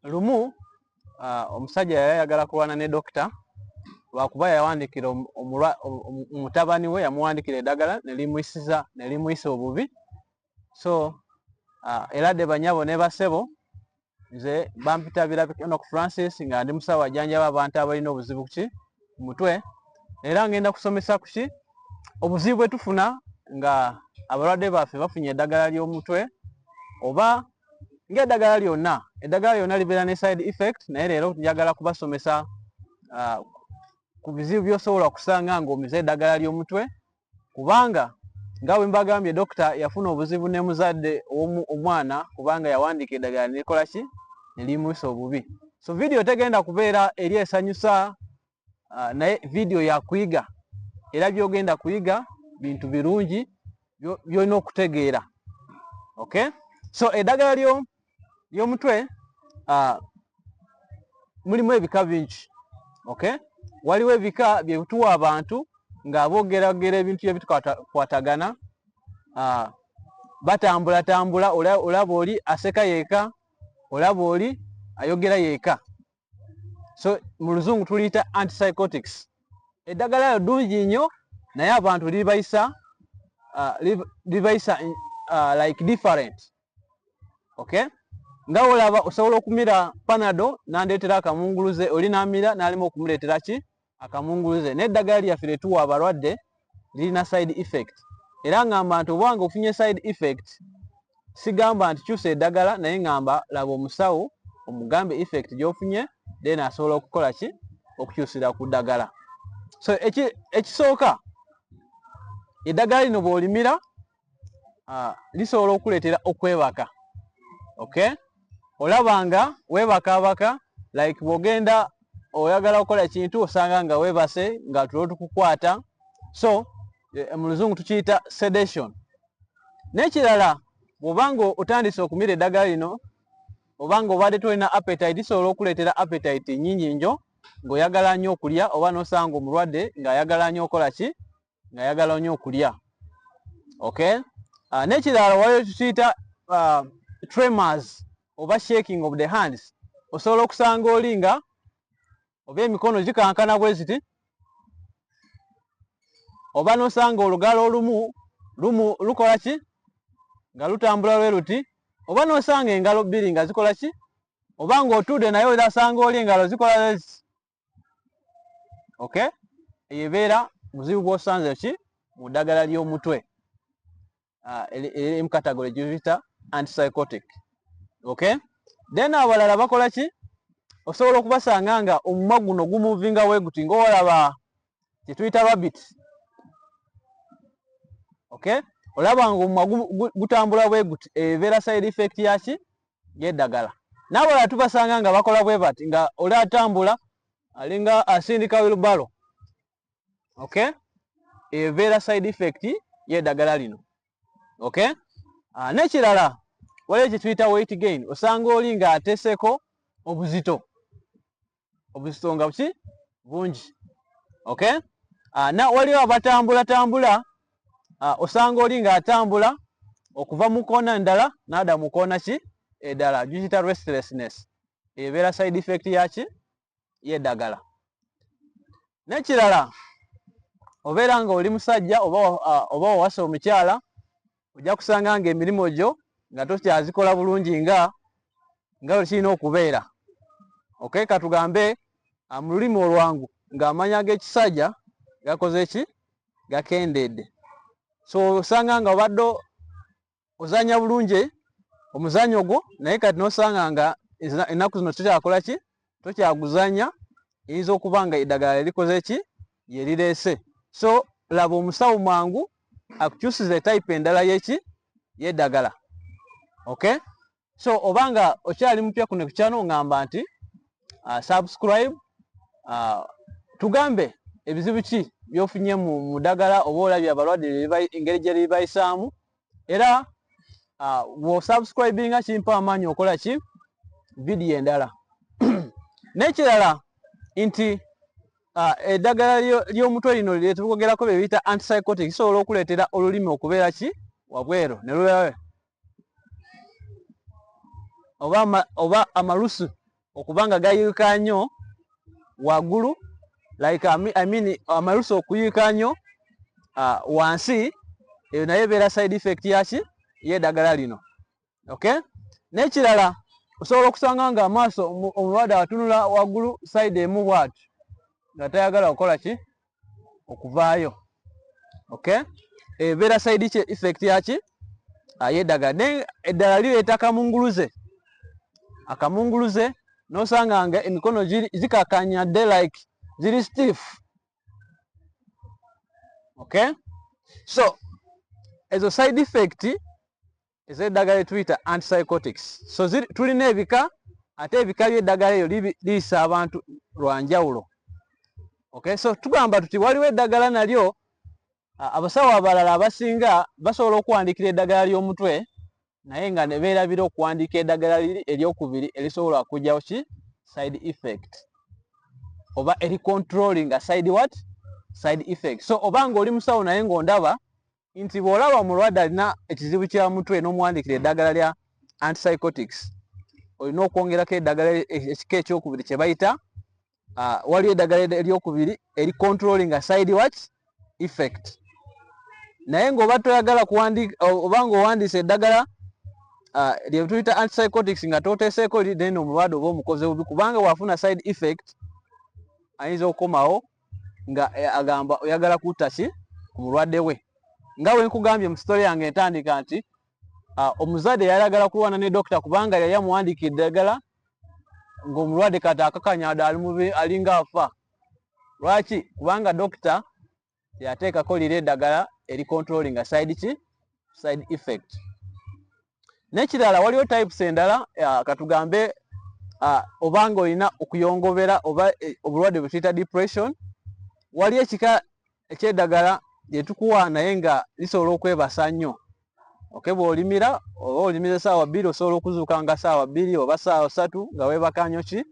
lumu uh, omusajja yali ayagala kulwana ne dokita lwakuba yawandikira omutabani we yamuwandikira eddagala nelimuyisiza nelimuyisa obubi so uh, era de banyabo ne basebo nze bampita birabikano ku francis nga ndi musawo ajanjaba abantu abalina obuzibu ki ku mutwe era ngenda kusomesa kuki obuzibu bwe tufuna nga abalwadde baffe bafunye eddagala ly'omutwe oba ng'eddagala lyonna eddagala lyonna libeera ne side effect naye leero njagala kubasomesa uh, ku bizibu by'osobola okusanga ng'omize eddagala ly'omutwe kubanga nga bwe mbagambye dokita yafuna obuzibu ne muzadde omwana kubanga yawandiika eddagala nekola ki ne limusa obubi so vidiyo tegenda kubeera eri esanyusa uh, naye vidiyo yakuyiga era byogenda kuyiga bintu birungi byolina okutegeera okay so eddagala lyo lyomutwe uh, mulimu ebika bingi okay waliwo ebika byetuwa abantu nga bogeragera ebintu byebitukwatagana uh, batambulatambula olaba oli aseka yeka olaba oli ayogera yeka so mu luzungu tuliyita antipsychotics eddagala lyo ddungi nnyo naye abantu libayisa uh, libayisa uh, like different okay nga olaba osobola okumira panado nandeetera akamunguluze oli namira nalimu okumuleetera ki akamunguluze naye eddagala lyaffe lyetuwa abalwadde lirina side effect era ngamba nti obanga ofunye side effect sigamba nti kyusa eddagala naye ngamba laba omusawo omugambe effect gyofunye then asobola okukola ki okukyusira ku ddagala so ekisooka eddagala lino bwolimira lisobola okuleetera okwebaka okay olaba nga webakaabaka like bwogenda oyagala okukola ekintu osanga nga webase nga tulo tukukwata so eh, mu luzungu tukiyita sedation n'ekirala bwobanga otandise okumira eddagala lino obanga obadde tolina appetite lisobola okuleetera appetite nyingi njo ng'oyagala nnyo okulya oba nosanga omulwadde ng'ayagala nnyo okola ki nga yagala nyo okulya okay uh, nekirala wayo tukiyita uh, tremors oba shaking of the hands osobola okusanga oli nga oba emikono gikankana bwe ziti oba nosanga olugalo olumu lumu lukola ki nga lutambula lwe luti oba nosanga engalo bbiri nga zikola ki oba ng'otuudde naye osanga oli engalo zikola okay eyo ebeera muzibu gwosanze ki mu ddagala ly'omutwe ah, emu category gyebita antipsychotic okay then abalala bakola ki osobola okubasanga nga omumwa guno gumuvinga weguti ngaolaba kyetuyita rabit okay olaba nga omumwa gutambula bweguti ebeera side effect yaki yedagala nabalala tubasanga nga bakola bwe bati nga oli atambula alinga asindika wilbaro ok ebeera side effect yedagala lino ok ah, nekirala waliwo kyetuyita weight gain osanga oli nga ateseko obuzito obusonga buki bungi okay uh, na waliwo abatambula tambula uh, osanga oli nga atambula okuva mu koona ndala nada mu koona ki edala jukita restlessness ebeera side effect yaki yedagala nekirala obeera nga oli musajja oba uh, owasa omukyala ojja kusanga nga emirimu gyo nga tokyazikola bulungi nga nga wekirina okubeera okay katugambe ah, mu lulimi olwangu ng'amanya g'ekisajja gakoze ki gakendeedde so osanga nga obadde ozanya bulungi omuzanyo gwo naye kati nosanga nga ennaku zino tukyakola ki tokyaguzanya eyinza okuba nga eddagala lyerikoze ki lyerireese so laba omusawo mwangu akukyusiza etype endala yeki yeddagala ok so oba nga okyali mupya kuno kukyano ngamba nti uh, subscribe uh, tugambe ebizibu ki byofunye mu dagala oba olabye abalwadde engeri gyeribayisaamu era uh, wosubscribinga kimpa amaanyi okola ki vidiyo endala n'ekirala nti uh, eddagala ly'omutwe lino lyetukogerako bye biyita antipsychotic kisobola okuleetera olulimi okubeera ki wabweru ne lubeera oba, ama, oba amalusu okuba nga gayiika nnyo waggulu like I mean amalusu okuyiika nnyo uh, wansi eyo naye ebeera side effect yaki yeddagala lino okay n'ekirala osobola okusanga nga amaaso omulwadde atunula waggulu side emu bwati nga tayagala kukola ki okuvaayo okay ebeera side ki effect yaki ayedaga ne eddala lireeta kamunguluze akamunguluze nosanga nga emikono zikakanya de like ziri stiff okay so ezo side effect ez'eddagala etuyita antipsychotics so tulina ebika ate ebika by'eddagala eyo liyisa abantu lwa njawulo okay so tugamba tuti waliwo eddagala nalyo abasawo abalala abasinga basobola okuwandiikira eddagala ly'omutwe naye nga ne beerabira okuwandiika eddagala liri eryokubiri erisobola okugyawo ki side effect oba eri controlling a side what side effect so oba nga oli musawo naye ng'ondaba nti bw'olaba omulwadde alina ekizibu kya mutwe n'omuwandiikira eddagala lya antipsychotics olina okwongerako eddagala ekika ekyokubiri kye bayita ah, waliwo eddagala eryokubiri eri controlling a side watch effect naye ng'oba toyagala kuwandiika oba ng'owandiisa eddagala ah, lye tuyita antipsychotics nga toteeseeko liri then omulwadde oba omukoze bubi kubanga bw'afuna side effect ayinza okukomawo nga eh, agamba oyagala kutta ki ku mulwadde we nga we nkugambye mu sitole yange entandika nti ah, omuzadde yali agala kulwana ne dokita kubanga yali amuwandiika eddagala ng'omulwadde kati akakanya ada alinga afa lwaki kubanga dokita yateekako lira eddagala eri controlling side ki side effect nekirala waliwo types endala uh, katugambe uh, obanga olina okuyongobera oba eh, obulwadde bwetuyita depression waliyo ekika ekyedagala lyetukuwa naye nga lisobola okwebasa nnyo oke bwolimira oba olimira esaawa bbiri osobola okuzuuka nga saawa bbiri oba saawa satu nga webakanyokyi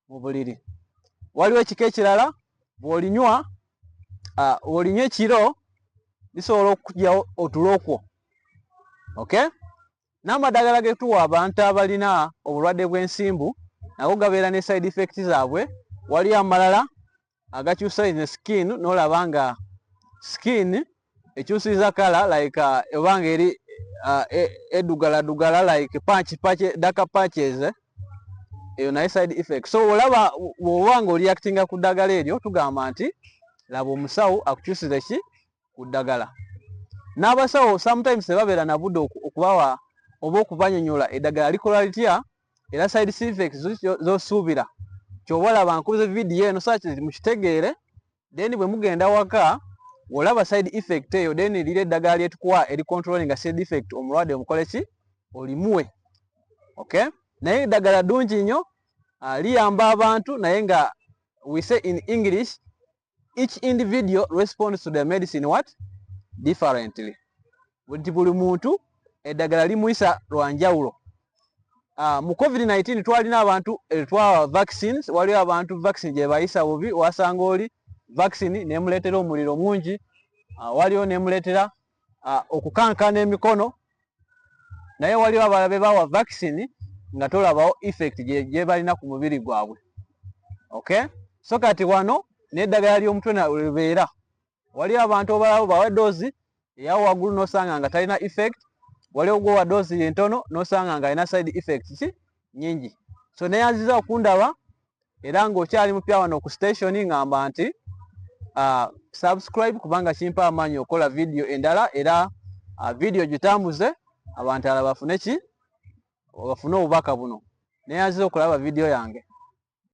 mu buliri waliwo ekika ekirala bwolinywa olinywa ekiro lisobola okujawo otulokwo ok n'amadagala getuwa abantu abalina obulwadde bw'ensimbu nago gabeera ne side effect zaabwe waliyo amalala agakyusa in the skin nolaba nga skin ekyusiza kala like uh, obanga eri uh, e, edugala dugala like patch patch daka patches eh? eyo naye side effect so olaba woba nga oliactinga ku ddagala eryo tugamba nti laba omusawo akukyusize ki ku ddagala n'abasawo sometimes tebabeera nabude okubawa oba okubanyonyola eddagala likola litya era side effects zosuubira kyoba olaba nkubize vidiyo eno saki mukitegeere then bwe mugenda waka olaba side effect eyo then lira eddagala lyetukuwa eri controlling nga side effect omulwadde omukole ki olimuwe okay naye eddagala ddungi nnyo ah, liyamba abantu naye nga we say in english each individual responds to the medicine what differently nti buli muntu eddagala limuyisa lwa njawulo ah, mu covid-19 twalina abantu eh, twawa vaccines waliwo abantu vaccine gye bayisa bubi wasanga oli vaccine nemuleetera omuliro mungi ah, waliwo nemuleetera ah, okukankana emikono naye waliwo abala be bawa vaccine nga tolabawo effect gyebalina ku mubiri gwabwe okay so kati wano n'eddagala ly'omutwe nalwebeera waliwo abantu obalabo bawa doozi eyawo waggulu nosanga nga talina effect waliwo gwowa doozi yentono nosanga nga alina side effect ki nyingi so neyanziza okundaba era ng'okyali mupya wano ku station ngamba nti uh, subscribe kubanga kimpa amaanyi okola vidiyo endala era uh, vidiyo gitambuze abantu ala bafune ki bafune obubaka buno neyanziza okulaba vidiyo yange